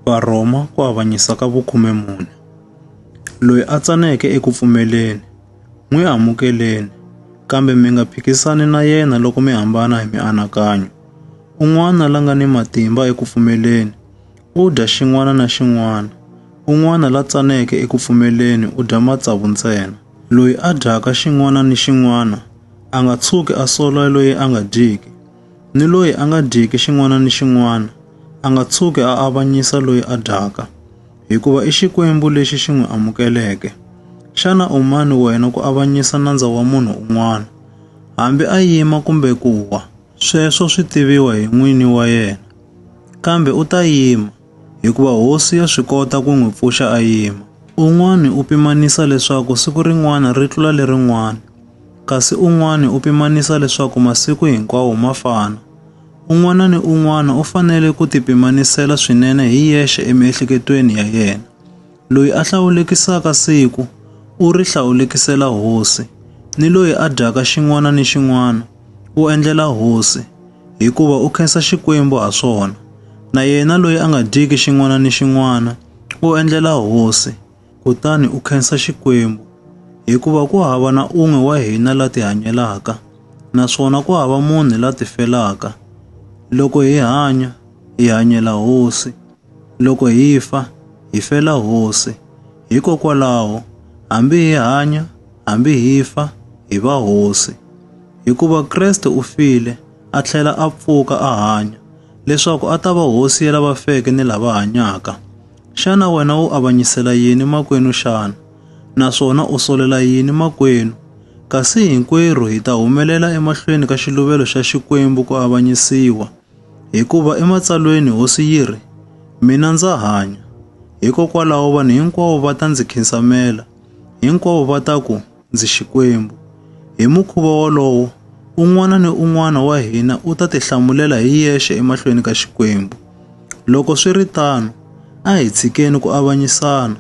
Varhoma ku avanyisa ka vukhume mune. Loyi a tsaneke eku pfumeleni, n'wi amukeleni, kambe mi nga phikisani na yena loko mi hambana hi mianakanyo. Un'wana la nga ni matimba eku pfumeleni u dya xin'wana na xin'wana, un'wana la tsaneke eku pfumeleni u dya matsavu ntsena. Loyi a dyaka xin'wana ni xin'wana a nga tshuki a sola loyi a nga dyiki. ni loyi a nga dyiki xin'wana ni xin'wana a nga tshuki a avanyisa loyi a dyaka, hikuva i Xikwembu lexi xi n'wi amukeleke. Xana u mani wena ku avanyisa nandza wa munhu un'wana? Hambi a yima kumbe ku wa, sweswo swi tiviwa hi n'wini wa yena. Kambe u ta yima, hikuva hosi ya swi kota ku n'wi pfuxa a yima. Un'wana u pimanisa leswaku siku rin'wana ri tlula lerin'wana, kasi un'wana u pimanisa leswaku masiku hinkwawo ma fana. Un'wana ni un'wana u fanele ku tipimanisela swinene hi yexe emiehleketweni ya yena. Loyi a hlawulekisaka siku, u ri hlawulekisela hosi, ni loyi a dyaka xin'wana ni xin'wana, u endlela hosi, hikuva u khensa Xikwembu ha swona, na yena loyi a nga dyiki xin'wana ni xin'wana, u endlela hosi, kutani u khensa Xikwembu, hikuva ku hava na un'we wa hina la tihanyelaka, naswona ku hava munhu la tifelaka. Loko hi hanya, hi hanyela hosi. Loko hi fa, hi fela Hosi. Hikokwalaho, hambi hi hanya, hambi hi fa, hi va Hosi. Hikuva Kreste u file, a tlhela a pfuka a hanya, leswaku a ta va Hosi ya lava feke ni lava hanyaka. Xana wena u avanyisela yini makwenu xana? Naswona u solela yini makwenu? Kasi hinkwerhu hi ta humelela emahlweni ka xiluvelo xa Xikwembu ku avanyisiwa. Hikuva eMatsalweni Hosi yi ri, Mina ndza hanya. Hikokwalaho vanhu hinkwavo va ta ndzi khinsamela, hinkwavo va ta ku ndzi Xikwembu. Hi mukhuva wolowo, un'wana ni un'wana wa hina u ta tihlamulela hi yexe emahlweni ka Xikwembu. Loko swi ri tano, a hi tshikeni ku avanyisana.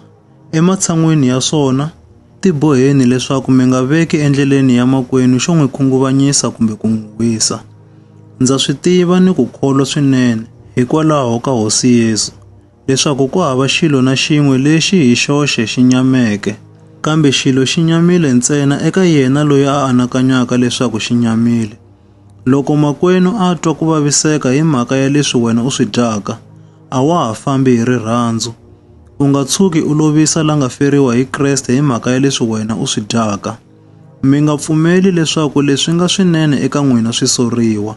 Ematshan'weni ya swona, tiboheni leswaku mi nga veki endleleni ya makwenu xo n'wi khunguvanyisa kumbe ku n'wi wisa. Ndza swi tiva ni ku kholwa swinene hikwalaho ka Hosi Yesu leswaku ku hava xilo na xin'we lexi hi xoxe xi nyameke, kambe xilo xi nyamile ntsena eka yena loyi a anakanyaka leswaku xi nyamile. Loko makwenu a twa ku vaviseka hi mhaka ya leswi wena u swi dyaka, a wa ha fambi hi rirhandzu. U nga tshuki u lovisa la nga feriwa hi Kreste hi mhaka ya leswi wena u swi dyaka. Mi nga pfumeli leswaku leswi nga swinene eka n'wina swi soriwa,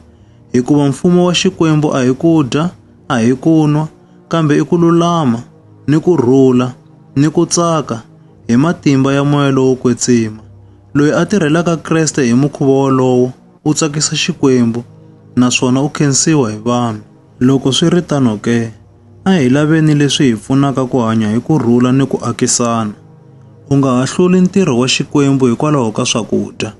hikuva mfumo wa Xikwembu a hi ku dya, a hi ku nwa, kambe i ku lulama, ni ku rhula, ni ku tsaka, hi matimba ya moya lowo kwetsima. Loyi a tirhelaka Kreste hi mukhuva wolowo u tsakisa Xikwembu naswona u khensiwa hi vanhu. Loko swi ri tano ke, a hi laveni leswi hi pfunaka ku hanya hi ku rhula ni ku akisana. U nga ha hluli ntirho wa Xikwembu hikwalaho ka swakudya.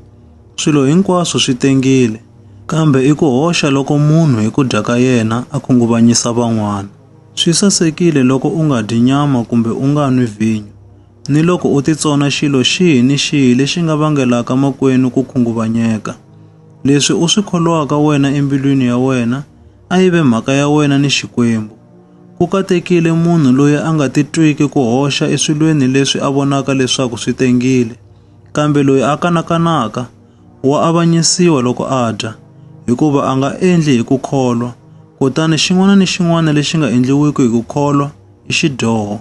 Swilo hinkwaswo swi tengile, kambe i ku hoxa loko munhu hi ku dya ka yena a khunguvanyisa van'wana. Swi sasekile loko u nga dyi nyama kumbe u nga nwi vhinyo. Niloko u titsona xilo xihi ni xihi lexi nga vangelaka makwenu ku khunguvanyeka, leswi u swi kholwaka wena embilwini ya wena a yi ve mhaka ya wena ni Xikwembu. Ku katekile munhu loyi a nga titwiki ku hoxa eswilweni leswi a vonaka leswaku swi tengile, kambe loyi a kanakanaka wa avanyisiwa loko a dya, hikuva a nga endli hi ku kholwa, kutani xin'wana ni xin'wana lexi nga endliwiki hi ku kholwa i xidyoho.